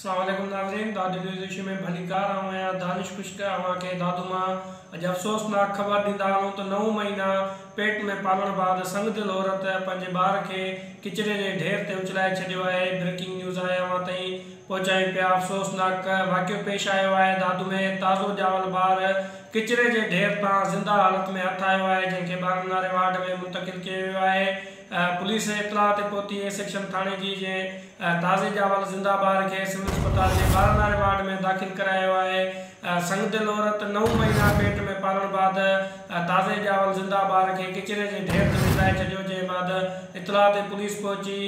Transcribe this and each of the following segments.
اسلام عليڪم ناظرين دادو نيوز ايشيا ۾ ڀليڪار آئون آهيان دانش خشڪ اوهان کي دادو مان اڄ افسوسناڪ خبر ڏيندا هلون ته نو مهينا پيٽ ۾ پالڻ بعد سنگ دل عورت پنهنجي ٻار کي ڪچري جي ڍير تي اڇلائي ڇڏيو آهي بريڪنگ نيوز آهي اوهان تائين پهچائين پيا افسوسناڪ واقعو پيش آيو آهي دادو ۾ تازو ڄاول ٻار ڪچري جي ڍير تان زنده حالت ۾ هٿ آيو آهي جنهن کي ٻارن واري وارڊ ۾ منتقل ڪيو ويو آهي پوليس اطلاع تي پهتي اي سيڪشن ٿاڻي جي جي تازي ڄاول زنده ٻار کي سول اسپتال جي ٻارن واري وارڊ ۾ داخل ڪرايو آهي سنگدل عورت نو مهينا پيٽ ۾ پالڻ بعد تازي ڄاول زنده ٻار کي ڪچري جي ڍير تي وجهلائي ڇڏيو جنهن بعد اطلاع تي پوليس پهچي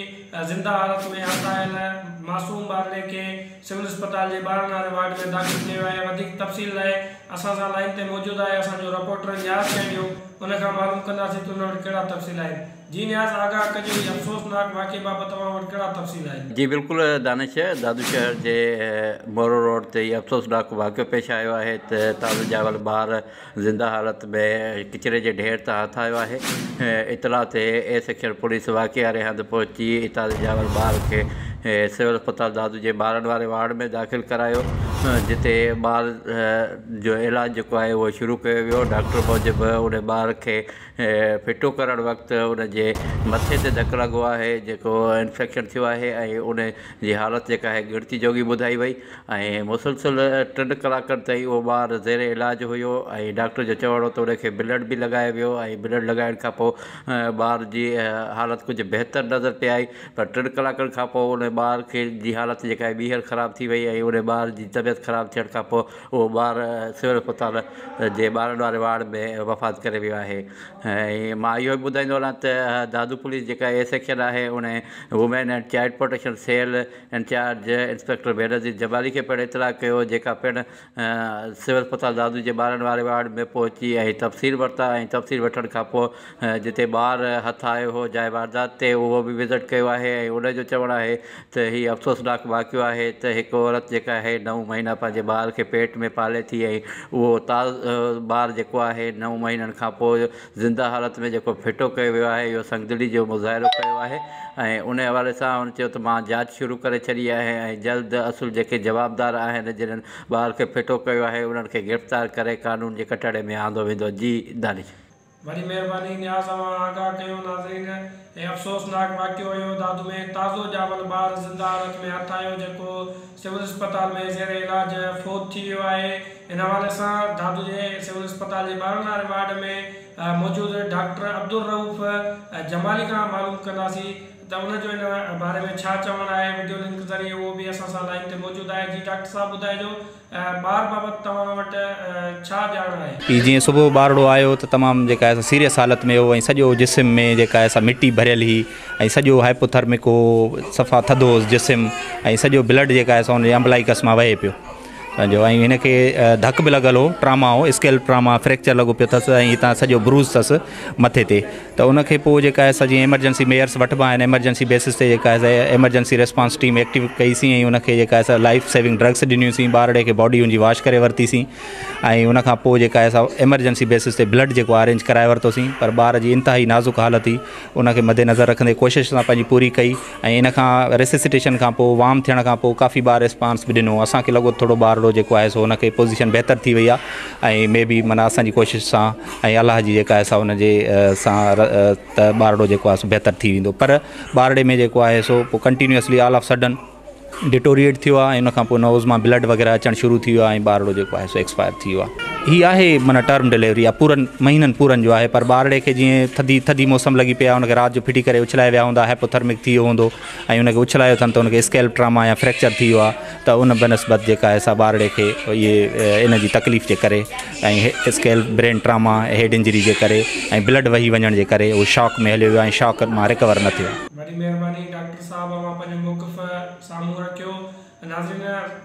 زنده حالت ۾ هرساهيل معصوم ٻارڙي کي سول اسپتال جي ٻاهران واري وارڊ ۾ داخل ڪيو آهي وڌيڪ تفصيل لاء اسان سان لائين تي موجود آهي اسان جو رپورٽر نياز چهنڊيو ان کان معلوم ڪنداسين ته ان وٽ ڪهڙا تفصيل آهن جي نياز آگاهه ڪجو هي افسوسناڪ واقعي بابت اوهان وٽ ڪهڙا تفصيل آهن. جي بلڪل دانش دادو شهر جي مورو روڊ تي هي افسوسناڪ واقعو پيش آيو آهي ته تعليم جاول ٻار زنده حالت ۾ ڪچري جي ڍير تان هٿ آيو آهي. اطلاع تي اي سيڪشن پوليس واقعي واري هنڌ پهچي اتان جي ڄاول ٻار کي سول اسپتال دادو جي ٻارن واري وارڊ ۾ داخل ڪرايو جتي ٻار جو علاج جيڪو آهي اهو شروع ڪيو ويو ڊاڪٽر موجب ان ٻار کي ڦٽو ڪرڻ وقت ان جي مٿي تي ڌڪ لڳو آهي جيڪو انفيڪشن ٿيو آهي ۽ ان جي حالت جيڪا آهي ڳڻتي جوڳي ٻڌائي وئي ۽ مسلسل ٽن ڪلاڪن تائين اهو ٻار زير علاج هيو ۽ ڊاڪٽر جو چوڻ هو ته ان کي بلڊ به لڳايو ويو ۽ بلڊ لڳائڻ کان پوء ٻار جي حالت ڪجهه بهتر نظر پئي آئي پر ٽن ڪلاڪن کان پوء ان ٻار کي جي حالت جيڪا آهي ٻيهر خراب ٿي وئي ۽ ان ٻار جي طبيعت خراب ٿيڻ کان پوء اهو ٻار سول اسپتال جي ٻارن واري وارڊ ۾ وفات ڪري ويو آهي ۽ مان اهو به ٻڌائيندو هلان ته دادو پوليس جيڪا ايس سيڪشن آهي ان women and child protection cell incharge inspector Benazir Jabali کي پڻ اطلاع ڪيو جيڪا پڻ سول اسپتال دادو جي ٻارن واري وارڊ ۾ پهچي ۽ تفصيل ورتا ۽ تفصيل وٺڻ کانپوء جتي ٻار هٿ آيو هو جاء واردات تي اهو به وزٽ ڪيو آهي ۽ انهن جو چوڻ آهي ته هي افسوسناڪ واقعو آهي ته هڪ عورت جيڪا آهي نو مهينا پنهنجي ٻار کي پيٽ ۾ پالي ٿي ۽ اهو تازو ٻار جيڪو آهي نو مهينن کانپوء زنده حالت ۾ جيڪو ڦٽو ڪيو ويو آهي اهو سنگدلي جو مظاهرو ڪيو آهي ۽ ان حوالي سان هن چيو ته مان جاچ شروع ڪري ڇڏي آهي ۽ جلد اصل جيڪي جوابدار آهن جنھن ٻار کي ڦٽو ڪيو آهي انھن کي گرفتار ڪري قانون جي ڪٽهڙي ۾ آندو ويندو جي دانش. وڏي مهرباني نياز اوهان آگاهه ڪيو ناظرين. هي افسوسناڪ واقعو اهو دادو ۾ تازو ڄاول ٻار زنده حالت ۾ هٿ آيو جيڪو سول اسپتال ۾ زير علاج فوت ٿي ويو آهي ان حوالي سان دادو جي سول اسپتال جي ٻارن واري وارڊ ۾ موجود ڊاڪٽر عبدالرئوف جمالي کان معلوم ڪنداسي ته ان جو ان باري ۾ ڇا چوڻ آهي وڊيو لنڪ ذريعي اهو به اسان سان لائين تي موجود آهي جي ڊاڪٽر صاحب ٻڌائجو ٻار بابت توهان وٽ ڇا ڄاڻ آهي؟ پي جيئن صبح ٻارڙو آيو ته تمام جيڪا آهي سا سيريس حالت ۾ هو ۽ سڄو جسم ۾ جيڪا آهي سا مٽي ڀريل هي ۽ سڄو هائپوٿرمڪ هو صفا ٿڌو هوس جسم ۽ سڄو بلڊ جيڪا آهي سا هن جي امبلائيڪس مان وهي پيو پنهنجو ۽ هن کي ڌڪ به لڳل هو ٽراما هو اسڪيلپ ٽراما فريڪچر لڳو پيو ٿس ۽ هتان سڄو بروز ٿس مٿي تي ته ان کي پوء جيڪا آهي سا جيئن ايمرجنسي ميئرس وٺبا آهن ايمرجنسي بيسس تي جيڪا آهي سا ايمرجنسي ريسپانس ٽيم ايڪٽيو ڪئي سين ۽ ان کي جيڪا آهي سا لائف سيونگ ڊرگس ڏنيون سين ٻارڙي کي باڊي ان جي واش ڪري ورتي سين ۽ ان کان پوء جيڪا آهي سا ايمرجنسي بيسس تي بلڊ جيڪو ارينج ڪرائي ورتو سين پر ٻار جي انتهائي نازڪ حالت هئي ان کي مدنظر رکندي ڪوشش اسان پنهنجي پوري ڪئي ۽ ان کان ريسيسيٽيشن کان پوء وام ٿيڻ کان پوء ڪافي ٻار ريسپانس به ڏنو اسان کي لڳو ٿورو ٻارڙو جيڪو آهي سو ان کي پوزيشن بهتر ٿي وئي آهي ۽ مي بي معنيٰ اسان جي ڪوشش سان ۽ الله جي جيڪا آهي سا ان جي سان ته ٻارڙو جيڪو آهي سو بهتر ٿي ويندو پر ٻارڙي ۾ جيڪو آهي سو پوء continuously all of sudden deteriorate ٿيو آهي ۽ ان کان پوء نوز مان بلڊ وغيره اچڻ شروع ٿي ويو آهي ۽ ٻارڙو جيڪو آهي سو ايڪسپائر ٿي ويو آهي هي آهي معنيٰ ٽرم ڊليوري يا پورن مهينن پورن جو آهي پر ٻارڙي کي جيئن ٿڌي ٿڌي موسم لڳي پئي آهي ان کي رات جو ڦٽي ڪري اڇلائي ويا هوندا هائپوٿرمڪ ٿي ويو هوندو ۽ ان کي اڇلايو اٿن ته ان کي اسڪيلپ ٽراما يا فريڪچر ٿي ويو آهي ته ان بنسبت جيڪا آهي سا ٻارڙي کي اهي ان جي تڪليف جي ڪري ۽ scalp brain trauma head injury جي ڪري ۽ بلڊ وهي وڃڻ جي ڪري هو شاڪ ۾ هليو ويو آهي شاڪ مان رڪور نه ٿيو آهي صاحب امان پنهنجو موقف سامهون رکيو. ناظرين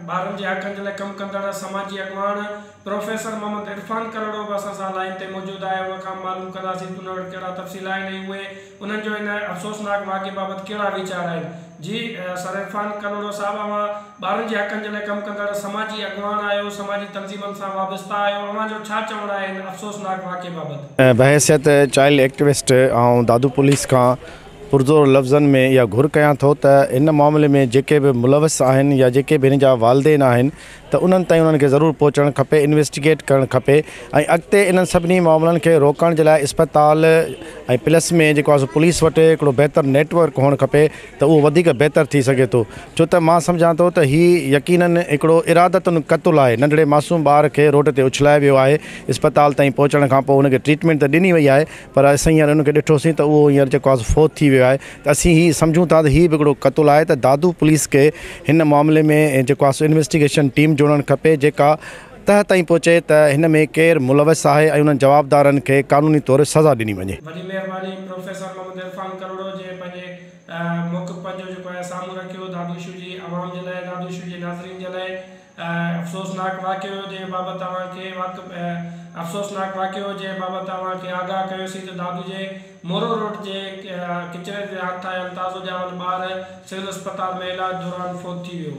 ٻارن جي حقن جي لاء ڪم ڪندڙ سماجي اڳواڻ پروفيسر محمد عرفان ڪلهوڙو به اسان سان لائين تي موجود آهي ان کان معلوم ڪنداسين ته ان وٽ ڪهڙا تفصيل آهن ۽ اهي انهن جو ان افسوسناڪ واقعي بابت ڪهڙا ويچار آهن جي سر عرفان ڪلهوڙو صاحب اوهان ٻارن جي حقن جي لاء ڪم ڪندڙ سماجي اڳواڻ آهيو سماجي تنظيمن سان وابسته آهيو اوهان جو ڇا چوڻ آهي ان افسوسناڪ واقعي بابت. بحيثيت چائلڊ ايڪٽوسٽ آئون دادو پوليس کان پرزور لفظن ۾ اها گهر ڪيان ٿو ته هن معاملي ۾ جيڪي به ملوث آهن يا جيڪي به هن جا والدين آهن ته انهن تائين انهن کي ضرور پهچڻ کپي انويسٽيگيٽ ڪرڻ کپي ۽ اڳتي انهن سڀني معاملن کي روڪڻ جي لاء اسپتال ۽ پلس ۾ جيڪو آهي سو پوليس وٽ هڪڙو بهتر نيٽ ورڪ هئڻ کپي ته اهو وڌيڪ بهتر ٿي سگهي ٿو ڇو ته مان سمجهان ٿو ته هي يقينن هڪڙو ارادتاً قتل آهي ننڍڙي معصوم ٻار کي روڊ تي اڇلائي ويو آهي اسپتال تائين پهچڻ کان پوء هن کي ٽريٽمينٽ ته ڏني وئي آهي پر اسين هينئر ان کي ڏٺوسين ته اهو هينئر جيڪو آهي سو فوت ٿي ويو آهي ته اسين هي سمجهون ٿا ته هي به هڪڙو قتل آهي ته دادو پوليس کي هن معاملي ۾ جيڪو آهي سو انويسٽيگيشن ٽيم جوڙڻ کپي جيڪا تهه تائين پهچي ته هن ۾ ڪير ملوث آهي ۽ انهن جوابدارن کي قانوني طور سزا ڏني وڃي. وڏي مهرباني پروفيسر محمد عرفان ڪروڙو جنهن پنهنجي موقف پنهنجو جيڪو آهي سامهون رکيو دادو شو جي عوام جي لاء دادو شو جي ناظرين جي لاء افسوسناڪ واقعو جنهن بابت اوهان کي واقف افسوسناڪ واقعو جنهن بابت اوهان کي آگاهه ڪيوسين ته دادو جي مورو روڊ جي ڪچري تي هٿ آيل تازو ڄاول ٻار سول اسپتال ۾ علاج دوران فوت ٿي ويو.